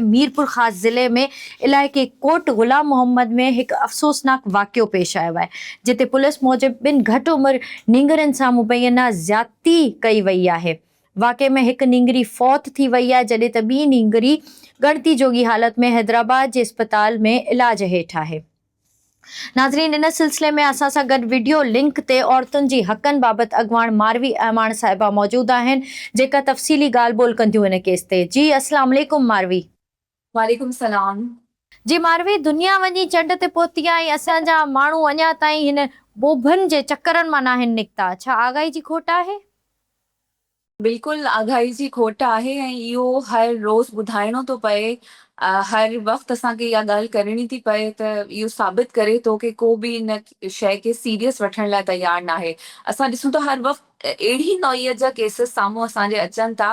ميرپورخاص ضلعي ۾ علائقي ڪوٽ غلام محمد ۾ هڪ افسوسناڪ واقعو پيش آيو آهي، جتي پوليس موجب ٻن گهٽ عمر نينگرين سان مبينا زيادتي ڪئي وئي آهي. واقعي ۾ هڪ نينگري فوت ٿي وئي آهي، جڏهن ته ٻي نينگري ڳڻتي جوڳي حالت ۾ حيدرآباد جي اسپتال ۾ علاج هيٺ آهي. ناظرين ان سلسلي ۾ اسان سان گڏ وڊيو لنڪ تي عورتن جي حقن بابت اڳواڻ ماروي اعواڻ صاحبه موجود آهن جيڪا تفصيلي ڳالهه ٻولهه ڪنديون ان ڪيس تي جي اسلام عليڪم ماروي. وعليڪم سلام. جي ماروي دنيا وڃي چنڊ تي پهتي آهي ۽ اسان جا ماڻهو اڃا تائين هن ٻوڀن جي چڪرن مان ناهن نڪتا ڇا آگاهي جي کوٽ آهي؟ بلڪل آگاهي جي کوٽ آهي ۽ اهو هر روز ٻڌائڻو ٿو پئي هر وقت اسان کي اها ڳالهه ڪرڻي ٿي پئي ته اهو ثابت ڪري ٿو ڪي ڪو به ان شئي کي سيريس وٺڻ لاء تيار ناهي اسان ڏسون ٿا هر وقت اهڙي نوعيت جا ڪيسز سامهون اسان جي اچن ٿا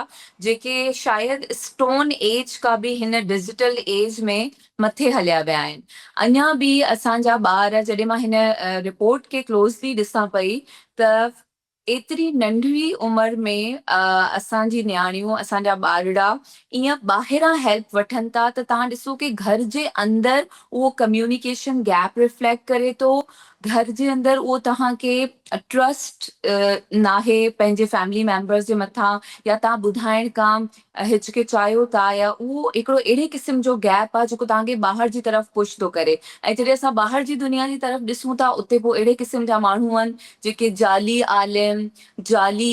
جيڪي شايد اسٽون ايج کان به هن ڊجيٽل ايج ۾ مٿي هليا ويا آهن اڃا به اسان جا ٻار جڏهن مان هن رپورٽ کي ڪلوزلي ڏسان پئي ته ايتري ننڍڙي عمر ۾ اسان جي نياڻيون اسان جا ٻارڙا ايئن ٻاهران هيلپ وٺن ٿا ته تهان ڏسو ڪي گهر جي اندر اهو ڪميونيڪيشن گيپ ريفليڪٽ ڪري ٿو گهر جي اندر اهو تهان کي ٽرسٽ ناهي پنهنجي فيملي ميمبرس جي مٿان يا تهان ٻڌائڻ کان هچڪچايو ٿا يا اهو هڪڙو اهڙي قسم جو گيپ آ جيڪو توهان کي ٻاهر جي طرف پش ٿو ڪري ۽ جڏهن اسان ٻاهر جي دنيا جي طرف ڏسون ٿا اتي پوء اهڙي قسم جا ماڻهو آهن جيڪي جعلي عالم جعلي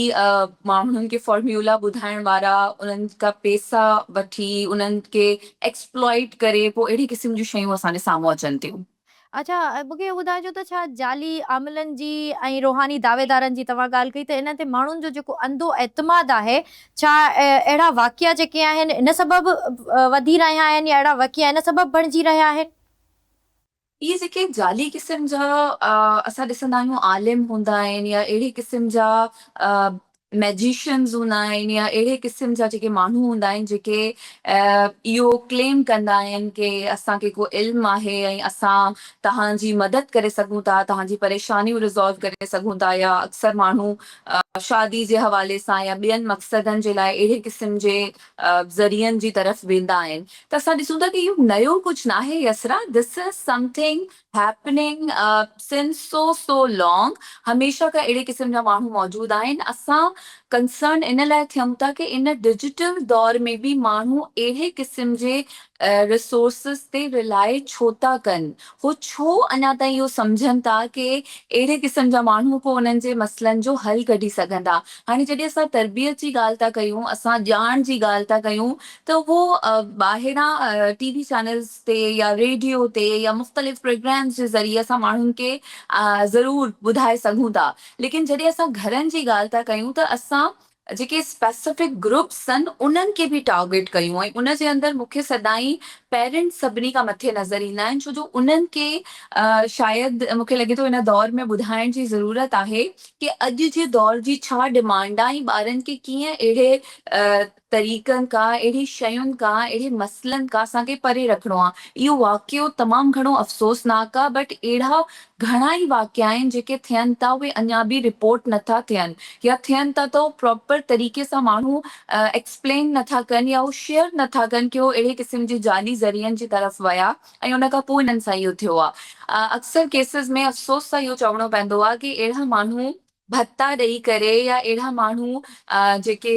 ماڻهن کي فارميولا ٻڌائڻ وارا انهن کان پيسا وٺي انهن کي ايڪسپلائيٽ ڪري پوء اهڙي قسم جون شيون اسان جي سامهون اچن ٿيون. اڇا مون کي اهو ٻڌائجو ته ڇا جعلي عاملن جي ۽ روحاني دعويدارن جي توهان ڳالهه ڪئي ته انهن تي ماڻهن جو جيڪو انڌو اعتماد آهي ڇا اهڙا واقعا جيڪي آهن ان سبب وڌي رهيا آهن يا اهڙا واقعا ان سبب بڻجي رهيا آهن؟ اهي جيڪي جعلي قسم جا اسان ڏسندا آهيون عالم هوندا آهن يا اهڙي قسم جا مئجيشنز هوندا آهن يا اهڙي قسم جا جيڪي ماڻهو هوندا آهن جيڪي اهو ڪليم ڪندا آهن ڪي اسان کي ڪو علم آهي ۽ اسان توهان جي مدد ڪري سگهون ٿا توهان جي پريشانيون ريزالو ڪري سگهون ٿا يا اڪثر ماڻهو شادي جي حوالي سان يا ٻين مقصدن جي لاء اهڙي قسم جي ذريعن جي طرف ويندا آهن ته اسان ڏسون ٿا ته اهو نيو ڪجهه ناهي يسرا This is something happening since so so long هميشه کان اهڙي قسم جا ماڻهو موجود آهن اسان ڪنسرن ان لاء ٿيون ٿا ڪي ان ڊجيٽل دور ۾ به ماڻهو اهڙي قسم جي ريسورسز تي رلاء ڇو ٿا ڪن هو ڇو اڃا تائين اهو سمجهن ٿا ڪي اهڙي قسم جا ماڻهو ڪو انهن جي مسئلن جو حل ڪڍي سگهندا هاڻي جڏهن اسان تربيت جي ڳالهه ٿا ڪيون اسان ڄاڻ جي ڳالهه ٿا ڪيون ته اهو ٻاهران ٽي وي چينلز تي يا ريڊيو تي يا مختلف پروگرامز جي ذريعي اسان ماڻهن کي ضرور ٻڌائي سگهون ٿا ليڪن جڏهن اسان گهرن جي ڳالهه ٿا ڪيون ته اسان جيڪي اسپيسفڪ گروپس سن انهن کي به ٽارگيٽ ڪيون ۽ ان جي اندر مون کي سدائين پيرنٽس سڀني کان مٿي نظر ايندا آهن ڇو جو انهن کي شايد مون کي لڳي ٿو ان دور ۾ ٻڌائڻ جي ضرورت آهي ڪي اڄ جي دور جي ڇا ڊمانڊ آهي ۽ ٻارن کي ڪيئن اهڙي طريقن کان، اهڙي شين کان، اهڙي مسئلن کان اسان کي پري رکڻو آ. اهو واقعو تمام گهڻو افسوسناڪ آ بٽ اهڙا گهڻا ئي واقعا آهن جيڪي ٿين ٿا اهي اڃا به رپورٽ نه ٿا ٿين يا ٿين ٿا ته اهو پراپر طريقي سان ماڻهو ايڪسپلين نه ٿا ڪن يا اهو شيئر نه ٿا ڪن ڪي هو اهڙي قسم جي جعلي ذريعن جي طرف ويا ۽ ان کان پوء هنن سان اهو ٿيو آ اڪثر ڪيسز ۾ افسوس سان اهو چوڻو پوندو آ ڪي اهڙا ماڻهو ڀتا ڏئي ڪري يا اهڙا ماڻهو جيڪي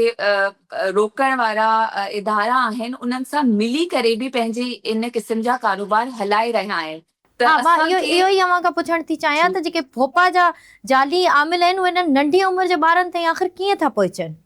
روڪڻ وارا ادارا آهن انهن سان ملي ڪري به پنهنجي ان قسم جا ڪاروبار هلائي رهيا آهن ته اسان کي. ها مان اهو ئي اوهان کان پڇڻ ٿي چاهيان ته جيڪي ڀوپا جا جعلي عامل آهن اهي انهن ننڍي عمر جي ٻارن تائين آخر ڪيئن ٿا پهچن؟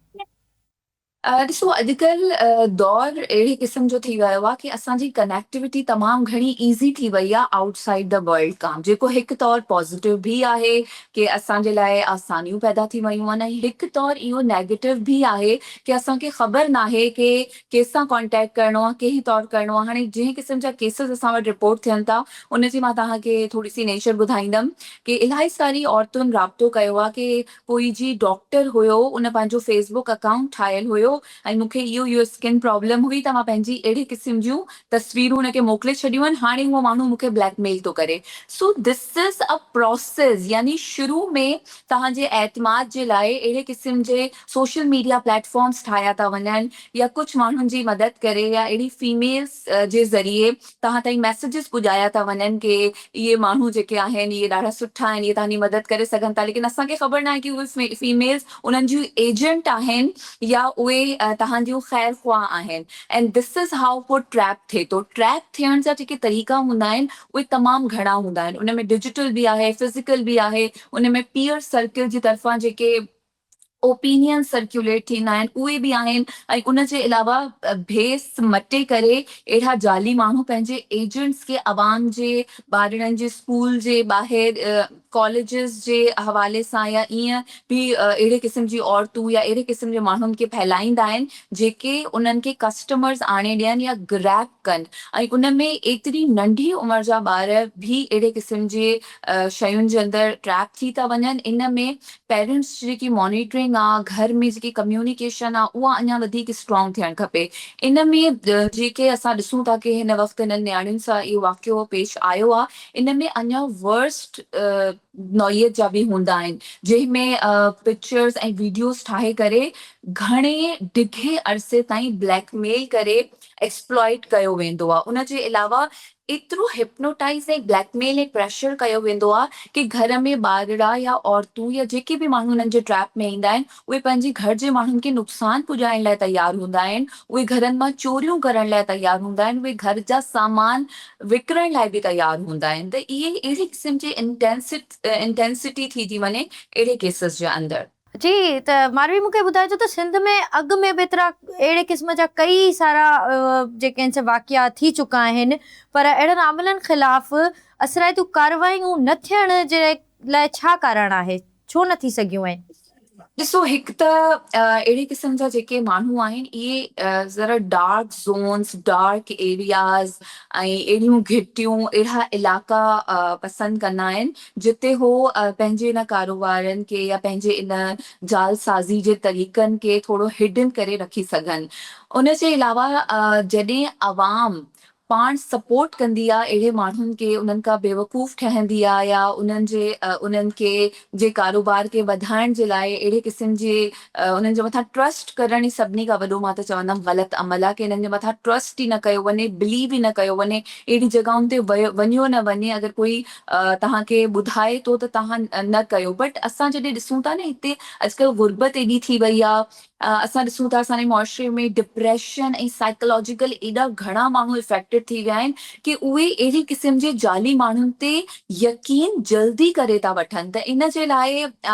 ڏسو اڄڪلهه دور اهڙي قسم جو ٿي ويو آهي ڪي اسان جي ڪنيڪٽيوٽي تمام گهڻي ايزي ٿي وئي آهي آئوٽ سائيڊ دي ورلڊ کان جيڪو هڪ طور پازيٽو به آهي ڪي اسان جي لاء آسانيون پيدا ٿي ويون آهن ۽ هڪ طور اهو نيگيٽو به آهي ڪي اسان کي خبر ناهي ڪي ڪي سان ڪانٽيڪٽ ڪرڻو آهي ڪنهن طور ڪرڻو آهي هاڻي جنهن قسم جا ڪيسز اسان وٽ رپورٽ ٿين ٿا ان جي مان توهان کي ٿوري سي نيچر ٻڌائيندم ڪي الاهي ساري عورتن رابطو ڪيو آهي ڪي پوئي جي ڊاڪٽر هيو ان پنهنجو فيس بڪ اڪائونٽ ٺاهيل هيو ۽ مون کي اهو اهو اسڪن پرابلم هئي ته مان پنهنجي اهڙي قسم جون تصويرون ان کي موڪلي ڇڏيون آهن هاڻي اهو ماڻهو مون کي بليڪ ميل ٿو ڪري سو دس از ا پراسيس يعني شروع ۾ توهان جي اعتماد جي لاء اهڙي قسم جي سوشل ميڊيا پليٽ فارمز ٺاهيا ٿا وڃن يا ڪجهه ماڻهن جي مدد ڪري يا اهڙي فيميلز جي ذريعي توهان تائين ميسيجز پڄايا ٿا وڃن ڪي اهي ماڻهو جيڪي آهن اهي ڏاڍا سٺا آهن اهي توهانجي مدد ڪري سگهن ٿا ليڪن اسان کي خبر ناهي ڪي اهي فيميلز انهن جون ايجنٽ آهن يا اهي توهان جون خير خواهه آهن اينڊ ڌس از هائو ڪو ٽريپ ٿئي ٿو ٽريپ ٿيڻ جا جيڪي طريقا هوندا آهن اهي تمام گهڻا هوندا آهن ان ۾ ڊجيٽل به آهي فزيڪل به آهي ان ۾ پيئر سرڪل جي طرفان جيڪي اوپينيئنز سرڪيوليٽ ٿيندا آهن اهي به آهن ۽ ان جي علاوه ڀيس مٽي ڪري اهڙا جعلي ماڻهو پنهنجي ايجنٽس کي عوام جي ٻارڙن جي اسڪول جي ٻاهر ڪاليجز جي حوالي سان يا ائين به اهڙي قسم جي عورتون يا اهڙي قسم جي ماڻهن کي ڦهلائيندا آهن جيڪي انهن کي ڪسٽمرز آڻي ڏين يا گريپ ڪن ۽ ان ۾ ايتري ننڍي عمر جا ٻار به اهڙي قسم جي شين جي اندر ٽريپ ٿي ٿا وڃن ان ۾ پيرنٽس جي جيڪي مانيٽرنگ آ گهر ۾ جيڪي ڪميونيڪيشن آ اها اڃا وڌيڪ اسٽرانگ ٿيڻ کپي ان ۾ جيڪي اسان ڏسون ٿا ڪي هن وقت هنن نياڻين سان اهو واقعو پيش آيو آ ان ۾ اڃا ورسٽ نوعيت جا به هوندا آهن جنهن ۾ پڪچرس ۽ ويڊيوز ٺاهي ڪري گهڻي ڊگهي عرصي تائين بليڪ ميل ڪري ايڪسپلائيٽ ڪيو ويندو آ ان جي علاوه ايترو هپنوٽائيز ۽ بليڪ ميل ۽ پريشر ڪيو ويندو آهي ڪي گهر ۾ ٻارڙا يا عورتون يا جيڪي به ماڻهو انهن جي ٽريپ ۾ ايندا آهن اهي پنهنجي گهر جي ماڻهن کي نقصان پڄائڻ لاء تيار هوندا آهن اهي گهرن مان چوريون ڪرڻ لاء تيار هوندا آهن اهي گهر جا سامان وڪڻڻ لاء به تيار هوندا آهن ته اهي اهڙي قسم جي انٽينسٽي ٿي ٿي وڃي اهڙي ڪيسز جي اندر. چي ته ماروي مون کي ٻڌائي ٿو ته سنڌ ۾ اڳ ۾ به ايترا اهڙي قسم جا ڪئي سارا جيڪي آهن سي واقعا ٿي چڪا آهن پر اهڙن عاملن خلاف اثرائتيون ڪارروايون نه ٿيڻ جي لاء ڇا ڪارڻ آهي؟ ڇو نه ٿي سگهيون آهن؟ ڏسو هڪ ته اهڙي قسم جا جيڪي ماڻهو آهن اهي ذرا ڊارڪ زونس، ڊارڪ ايرياز ۽ اهڙيون گهٽيون اهڙا علائقا پسند ڪندا آهن جتي هو پنهنجي ان ڪاروبارن کي يا پنهنجي ان جعل سازي جي طريقن کي ٿورو هڊن ڪري رکي سگهن. ان جي علاوه جڏهن عوام پاڻ سپورٽ ڪندي آ اهڙي ماڻهن کي انهن کان بيوقوف ٺهندي آ يا انهن جي انهن کي جي ڪاروبار کي وڌائڻ جي لاء اهڙي قسم جي انهن جي مٿان ٽرسٽ ڪرڻ ئي سڀني کان وڏو مان ته چوندم غلط عمل آ ڪي انهن جي مٿان ٽرسٽ ئي نه ڪيو وڃي بليو ئي نه ڪيو وڃي اهڙي جڳهن تي ويو وڃيو نه وڃي اگر ڪوئي توهان کي ٻڌائي ٿو ته توهان نه ڪيو بٽ اسان جڏهن ڏسون ٿا نه هتي اڄڪلهه غربت ايڏي ٿي وئي آ اسان ڏسون ٿا اسان جي معاشري ۾ ڊپريشن ۽ سائيڪلاجيڪل ايڏا گهڻا ماڻهو افيڪٽيڊ ٿي ويا آهن ڪي اهي اهڙي قسم جي جعلي ماڻهن تي يقين جلدي ڪري ٿا وٺن ته ان جي لاء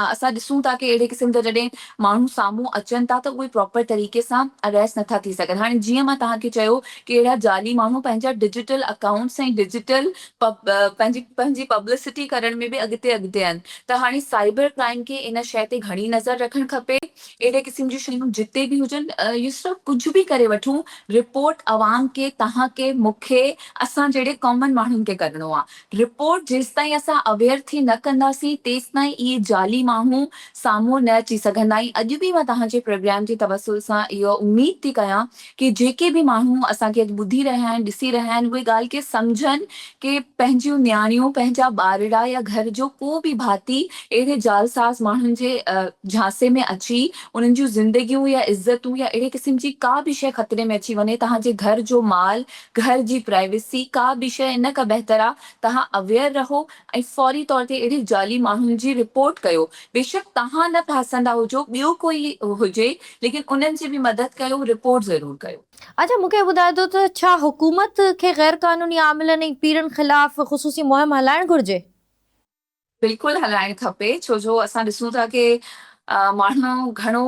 اسان ڏسون ٿا ڪي اهڙي قسم جا جڏهن ماڻهو سامهون اچن ٿا ته اهي پراپر طريقي سان اريسٽ نٿا ٿي سگهن هاڻي جيئن مان توهان کي چيو ڪي اهڙا جعلي ماڻهو پنهنجا ڊجيٽل اڪائونٽس ۽ ڊجيٽل پنهنجي پبلسٽي ڪرڻ ۾ به اڳتي اڳتي آهن ته هاڻي سائبر ڪرائيم کي ان شيء تي گهڻي نظر رکڻ کپي اهڙي قسم جون شيون جتي به هجن يسرا ڪجهه به ڪري وٺون رپورٽ عوام کي توهان کي مون کي اسان جهڙي ڪامن ماڻهن کي ڪرڻو آهي رپورٽ جيستائين اسان اويئر ٿي نه ڪنداسين تيستائين اهي جعلي ماڻهو سامهون نه اچي سگهندا ۽ اڄ به مان توهان جي پروگرام جي توسل سان اها اميد ٿي ڪيان ڪي جيڪي به ماڻهو اسان کي اڄ ٻڌي رهيا آهن، ڏسي رهيا آهن اهي ڳالهه ڪي سمجهن ڪي پنهنجيون نياڻيون، پنهنجا ٻارڙا يا گهر جو ڪو به ڀاتي اهڙي جعلساز ماڻهن جي جهانسي ۾ اچي انهن جون زندگيون يا عزتون يا اهڙي قسم جي ڪا به شيء خطري ۾ اچي وڃي تهان جي گهر جو مال، گهر جي پرائيويسي ڪا به شيء ان کان بهتر آ تهان اويئر رهو ۽ فوري طور تي اهڙي جعلي ماڻهن جي رپورٽ ڪيو بيشڪ تهان نه ڦاسندا هجو ٻيو ڪوئي هجي ليڪن انهن جي به مدد ڪيو رپورٽ ضرور ڪيو. اچا مون کي ٻڌاء ته ڇا حڪومت کي غير قانوني عاملن ۽ پيرن خلاف خصوصي مهم هلائڻ گهرجي؟ بلڪل هلائڻ کپي ڇو جو اسان ڏسون ٿا ڪي ماڻهو گهڻو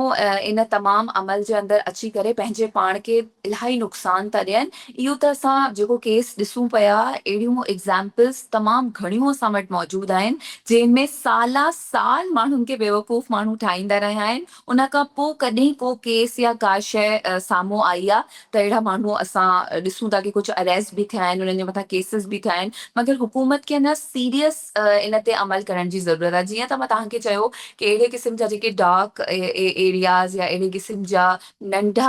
ان تمام عمل جي اندر اچي ڪري پنهنجي پاڻ کي الاهي نقصان ٿا ڏين اهو ته اسان جيڪو ڪيس ڏسون پيا اهڙيون ايگزامپلس تمام گهڻيون اسان وٽ موجود آهن جنهن ۾ سالا سال ماڻهن کي بيوقوف ماڻهو ٺاهيندا رهيا آهن ان کان پوء ڪڏهن ڪو ڪيس يا ڪا شيء سامهون آئي آ ته اهڙا ماڻهو اسان ڏسون ٿا ڪي ڪجهه اريسٽ به ٿيا آهن، انهن جي مٿان ڪيسز به ٿيا آهن، مگر حڪومت کي اڃا سيريس ان تي عمل ڪرڻ جي ضرورت آ، جيئن ته مان توهان کي چيو ڪي اهڙي قسم جا جيڪي ڊارڪ ايرياز يا اهڙي قسم جا ننڍا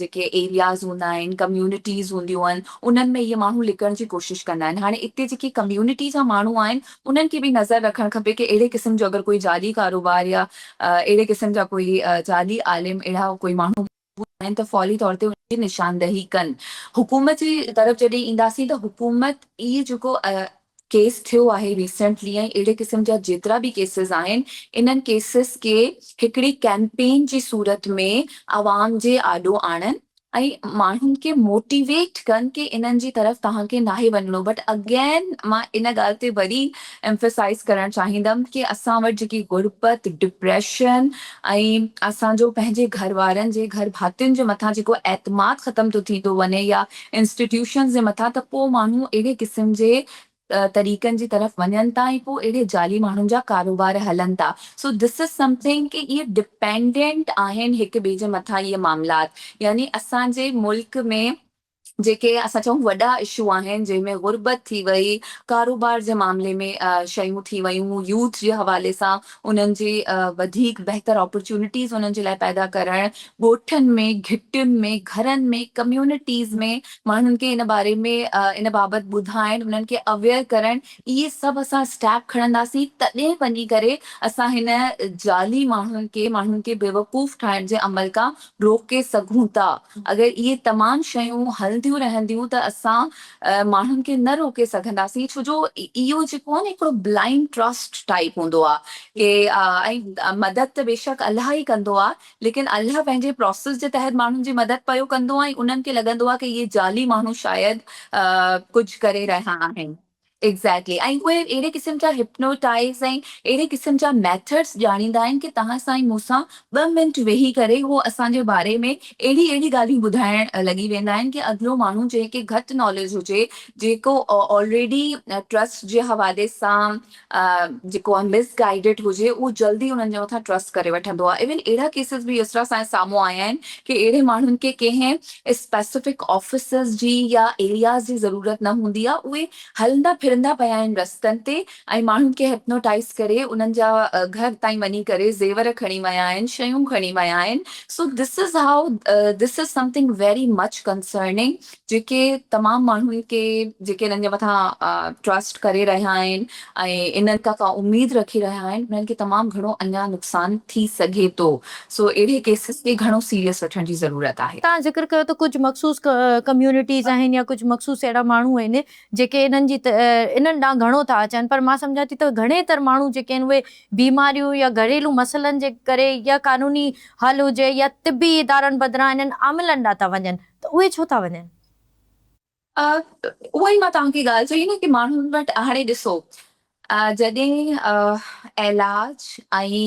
جيڪي ايرياز هوندا آهن، ڪميونٽيز هونديون آهن، انهن ۾ اهي ماڻهو لڪڻ جي ڪوشش ڪندا آهن، هاڻي اتي جيڪي ڪميونٽي جا ماڻهو آهن انهن کي به نظر رکڻ کپي ڪي اهڙي قسم جو اگر ڪوئي جعلي ڪاروبار يا اهڙي قسم جا ڪوئي جعلي عالم اهڙا ڪوئي ماڻهو موجود آهن ته فوري طور تي انهن جي نشاندهي ڪن حڪومت جي طرف جڏهن اينداسين ته حڪومت ئي جيڪو ڪيس ٿيو آهي ريسينٽلي ۽ اهڙي قسم جا جيترا به ڪيسز آهن انهن ڪيسز کي هڪڙي ڪيمپين جي صورت ۾ عوام جي آڏو آڻن ۽ ماڻهن کي موٽيويٽ ڪن ڪي انهن جي طرف توهان کي ناهي وڃڻو بٽ اگين مان ان ڳالهه تي وري ايمفيسائز ڪرڻ چاهيندم ڪي اسان وٽ جيڪي غربت ڊپريشن ۽ اسان جو پنهنجي گهر وارن جي گهر ڀاتين جي مٿان جيڪو اعتماد ختم ٿو ٿيندو وڃي يا انسٽيٽيوشنز جي مٿان ته پو ماڻهو اهڙي قسم جي طريقن جي طرف وڃن ٿا ۽ پوء اهڙي جعلي ماڻهن جا ڪاروبار هلن ٿا. سو ڌس از سمٿنگ ڪي اهي ڊپينڊنٽ آهن هڪ ٻئي جي مٿان اهي معاملات يعني اسان جي ملڪ ۾ جيڪي اسان چئون وڏا اشو آهن جنهن ۾ غربت ٿي وئي ڪاروبار جي معاملي ۾ شيون ٿي ويون يوٿ جي حوالي سان انهن جي وڌيڪ بهتر آپرچونٽيز انهن جي لاء پيدا ڪرڻ، ڳوٺن ۾ گهٽين ۾ گهرن ۾ ڪميونٽيز ۾ ماڻهن کي ان باري ۾ ان بابت ٻڌائڻ انهن کي اويئر ڪرڻ اهي سڀ اسان اسٽيپ کڻنداسين تڏهن وڃي ڪري اسان هن جعلي ماڻهن کي ماڻهن کي بيوقوف ٺاهڻ جي عمل کان روڪي سگهون ٿا. اگر اهي تمام شيون هلنديون رهنديون ته اسان ماڻهن کي نه روڪي سگهنداسين ڇو جو اهو جيڪو آهي نه هڪڙو بلائنڊ ٽرسٽ ٽائيپ هوندو آهي ڪي ۽ مدد ته بيشڪ الله ئي ڪندو آهي ليڪن الله پنهنجي پراسيس جي تحت ماڻهن جي مدد پيو ڪندو ۽ انهن کي لڳندو آهي ڪي اهي جعلي ماڻهو شايد ڪجهه ڪري رهيا آهن. Exactly ۽ اهي اهڙي قسم جا Hypnotize ۽ اهڙي قسم جا Methods ڄاڻيندا آهن ڪي توهان سان ۽ مون سان ٻه منٽ ويهي ڪري هو اسان جي باري ۾ اهڙي اهڙي ڳالهيون ٻڌائڻ لڳي ويندا آهن ڪي اڳلو ماڻهو جنهن کي گهٽ Knowledge هجي جيڪو Already Trust جي حوالي سان جيڪو Misguided هجي اهو جلدي انهن جي مٿان Trust ڪري وٺندو آهي Even اهڙا Cases به يسرا سائين سامهون آيا آهن ڪي اهڙي ماڻهن کي ڪنهن اسپيسفڪ آفيسز جي يا ايرياز جي ضرورت نه هوندي آهي، اهي هلندا ڦرندا پيا آهن رستن تي ۽ ماڻهن کي هپنوٽائيز ڪري انهن جا گهر تائين وڃي ڪري زيور کڻي ويا آهن، شيون کڻي ويا آهن، سو this is how this is something very much concerning جيڪي تمام ماڻهن کي جيڪي انهن جي مٿان ٽرسٽ ڪري رهيا آهن ۽ ان ڪا ڪا اميد رکي رهيا آهن انهن کي تمام گهڻو اڃا نقصان ٿي سگهي ٿو سو اهڙي ڪيسز کي گهڻو سيريس وٺڻ جي ضرورت آهي. توهان ذڪر ڪيو ته ڪجهه مخصوص ڪميونٽيز آهن يا ڪجهه مخصوص اهڙا ماڻهو آهن جيڪي انهن جي انهن ڏانهن گهڻو ٿا اچن پر مان سمجهان ٿي ته گهڻي تر ماڻهو جيڪي آهن اهي بيماريون يا گهريلو مسئلن جي ڪري يا قانوني حل هجي يا طبي ادارن بدران انهن عاملن ڏانهن ٿا وڃن ته اهي ڇو ٿا وڃن؟ اهو ئي مان توهان کي ڳالهه چئي نه ڪي ماڻهن وٽ هاڻي ڏسو جڏهن علاج ۽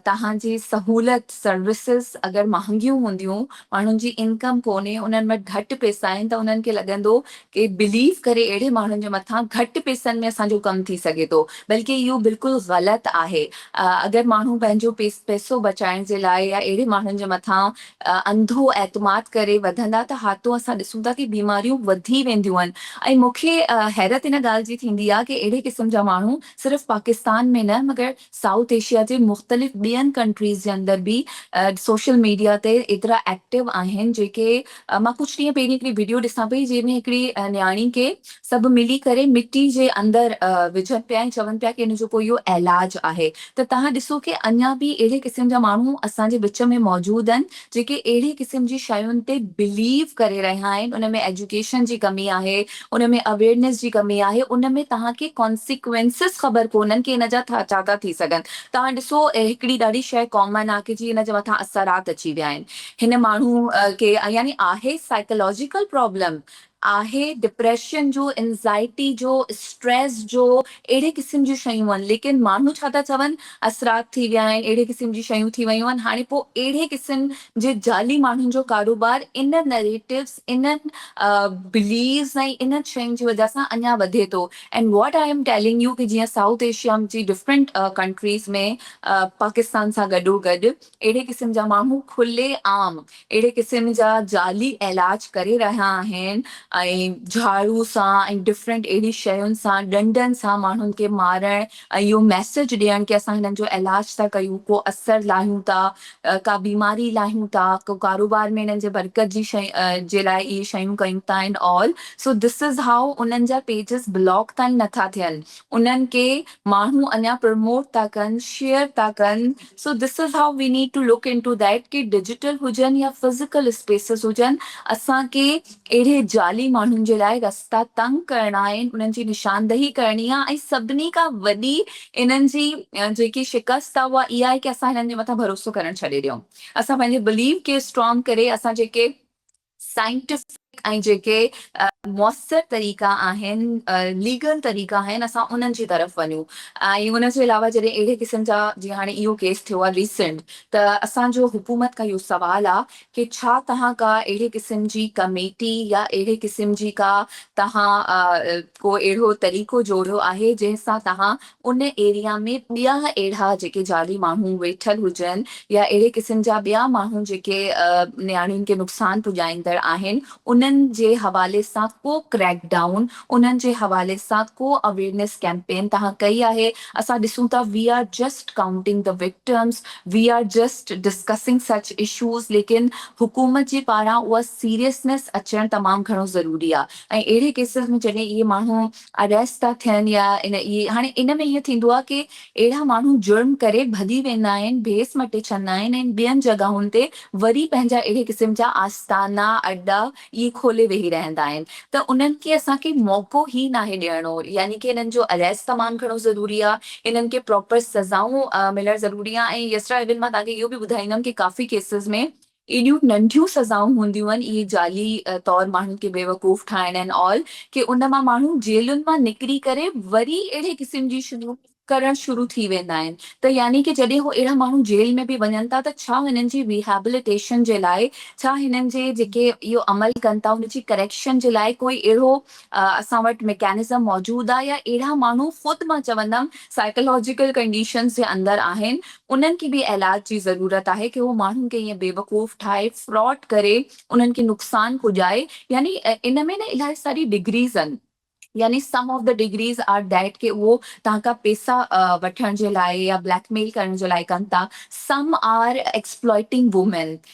توهان جي سهولت سروسز اگر مهانگيون هونديون ماڻهن جي انڪم ڪونهي انهن وٽ گهٽ پيسا آهن ته انهن کي لڳندو ڪي بليف ڪري اهڙي ماڻهن جي مٿان گهٽ پيسن ۾ اسان جو ڪم ٿي سگهي ٿو بلڪه اهو بلڪل غلط آهي اگر ماڻهو پنهنجو پيسو بچائڻ جي لاء يا اهڙي ماڻهن جي مٿان انڌو اعتماد ڪري وڌندا ته ها تو اسان ڏسون ٿا ڪي بيماريون وڌي وينديون آهن ۽ مون کي حيرت ان ڳالهه جي ٿيندي آهي ڪي اهڙي قسم جا ماڻهو صرف پاڪستان ۾ نه مگر سائوٿ ايشيا جي مختلف ٻين ڪنٽريز جي اندر به سوشل ميڊيا تي ايترا ايڪٽو آهن جيڪي مان ڪجهه ڏينهن پهرين هڪڙي ويڊيو ڏسان پئي جنهن ۾ هڪڙي نياڻي کي سڀ ملي ڪري مٽي جي اندر وجهن پيا ۽ چون پيا ڪي ان جو ڪو اهو علاج آهي ته تهان ڏسو ڪي اڃا به اهڙي قسم جا ماڻهو اسان جي وچ ۾ موجود آهن جيڪي اهڙي قسم جي شين تي بليو ڪري رهيا آهن ان ۾ ايجوڪيشن جي ڪمي آهي ان ۾ اويرنيس جي ڪمي آهي ان ۾ تهان کي ڪانسيڪوينسز خبر ڪونهن ڪي ان جا ٿا ڇا ٿا ٿي سگهن تهان ڏسو هڪڙي ڏاڍي شي ڪامن آهي ڪي جي ان جي مٿان اثرات اچي ويا آهن هن ماڻهو کي يعني آهي سائيڪلاجيڪل پرابلم آهي ڊپريشن جو انزائٽي جو اسٽريس جو اهڙي قسم جون شيون آهن ليڪن ماڻهو ڇا ٿا چون اثرات ٿي ويا آهن اهڙي قسم جون شيون ٿي ويون آهن هاڻي پوء اهڙي قسم جي جعلي ماڻهن جو ڪاروبار ان نريٽوز انهن بليفز ۽ انهن شين جي وجه سان اڃا وڌي ٿو and what I am telling you ڪي جيئن سائوٿ ايشيا جي ڊفرنٽ ڪنٽريز ۾ پاڪستان سان گڏو گڏ اهڙي قسم جا ماڻهو کلي عام اهڙي قسم جا جعلي علاج ڪري رهيا آهن ۽ جهاڙو سان ۽ ڊفرنٽ اهڙي شين سان ڏنڊن سان ماڻهن کي مارڻ ۽ اهو ميسيج ڏيڻ ڪي اسان هنن جو علاج ٿا ڪيون ڪو اثر لاهيون ٿا ڪا بيماري لاهيون ٿا ڪو ڪاروبار ۾ هنن جي برڪت جي شين جي لاء اهي شيون ڪيون ٿا and all so this is هائو انهن جا پيجز بلاڪ تائين نٿا ٿين انهن کي ماڻهو اڃا پرموٽ ٿا ڪن شيئر ٿا ڪن so this is why we need to look into that ڪي ڊجيٽل هجن يا فزيڪل اسپيسز هجن اسان کي اهڙي جعلي ماڻهن جي لاء رستا تنگ ڪرڻا آهن انهن جي نشاندهي ڪرڻي آهي ۽ سڀني کان وڏي انهن جي جيڪي شڪست آهي اها اها آهي ڪي اسان هنن جي مٿان ڀروسو ڪرڻ ڇڏي ڏيون اسان پنهنجي بليف کي اسٽرانگ ڪري اسان جيڪي سائنٽفڪ ۽ جيڪي موثر طريقا آهن، ليگل طريقا آهن اسان انهن جي طرف وڃون ۽ ان جي علاوه جڏهن اهڙي قسم جا جيئن هاڻي اهو ڪيس ٿيو آهي ريسنٽ ته اسان جو حڪومت کان اهو سوال آهي ڪي ڇا توهان ڪا اهڙي قسم جي ڪميٽي يا اهڙي قسم جي ڪا توهان ڪو اهڙو طريقو جوڙيو آهي جنهن سان توهان ان ايريا ۾ ٻيا اهڙا جيڪي جعلي ماڻهو ويٺل هجن يا اهڙي قسم جا ٻيا ماڻهو جيڪي نياڻين کي نقصان پڄائيندڙ آهن انهن جي حوالي سان ڪو ڪريڪ ڊائون انهن جي حوالي سان ڪو اويرنيس ڪيمپين توهان ڪئي آهي اسان ڏسون ٿا we are just counting the victims we are just discussing such issues ليڪن حڪومت جي پاران اها سيريسنيس اچڻ تمام گهڻو ضروري آهي ۽ اهڙي ڪيسز ۾ جڏهن اهي ماڻهو اريسٽ ٿا ٿين يا ان اهي هاڻي ان ۾ اهو ٿيندو آهي ڪي اهڙا ماڻهو جرم ڪري ڀڄي ويندا آهن ڀيس مٽي ڇڏندا آهن ۽ ٻين جڳهن تي وري پنهنجا اهڙي قسم جا آستانا اڏا اهي کولي ويهي رهندا آهن ته انهن کي اسان کي موقعو هي ناهي ڏيڻو يعني ڪي انهن جو اريسٽ تمام گهڻو ضروري آهي انهن کي پراپر سزائون ملڻ ضروري آهن ۽ يسرا ايون مان توهان کي اهو به ٻڌائيندم ڪي ڪافي ڪيسز ۾ ايڏيون ننڍيون سزائون هونديون هن اهي جعلي طور ماڻهن کي بيوقوف ٺاهڻ اينڊ آل ڪي ان مان ماڻهو جيلن مان نڪري ڪري وري اهڙي قسم جي شيون ڪرڻ شروع ٿي ويندا آهن ته يعني ڪي جڏهن هو اهڙا ماڻهو جيل ۾ به وڃن ٿا ته ڇا هنن جي ريهابليٽيشن جي لاء ڇا هنن جي جيڪي اهو عمل ڪن ٿا ان جي ڪريڪشن جي لاء ڪوئي اهڙو اسان وٽ ميڪانزم موجود آ يا اهڙا ماڻهو خود مان چوندم سائيڪالاجيڪل ڪنڊيشنز جي اندر آهن انهن کي به علاج جي ضرورت آهي ڪي هو ماڻهن کي ائين بيوقوف ٺاهي فراڊ ڪري انهن کي نقصان پڄائي يعني ان ۾ نه الاهي ساري ڊگريز ان يعني sum of the degrees are that ڪي اهو توهان کان پيسا وٺڻ جي لاء يا بليڪ ميل ڪرڻ جي لاء ڪن ٿا some are exploiting women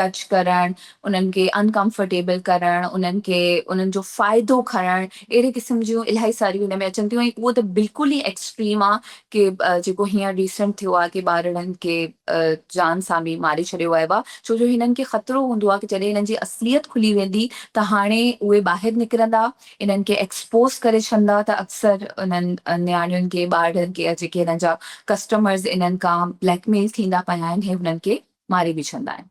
touch ڪرڻ، انهن کي ان ڪمفرٽيبل ڪرڻ، انهن کي انهن جو فائدو کڻڻ، اهڙي قسم جون الائي ساريون ان ۾ اچن ٿيون ۽ اهو ته بلڪل ئي ايڪسٽريم آ ڪي جيڪو هينئر ريسنٽ ٿيو آ ڪي ٻارڙن کي جان سان به ماري ڇڏيو ويو آ ڇو جو هنن کي خطرو هوندو آ ڪي جڏهن هنن جي اصليت کلي ويندي ته هاڻي اهي ٻاهر نڪرندا انهن کي ايڪسپوز ڪري ڇڏندا ته اڪثر انهن نياڻين کي ٻارڙن کي يا جيڪي هنن جا ڪسٽمرز انهن کان بليڪ ميل ٿيندا پيا آهن هي هنن کي ماري به ڇڏندا آهن.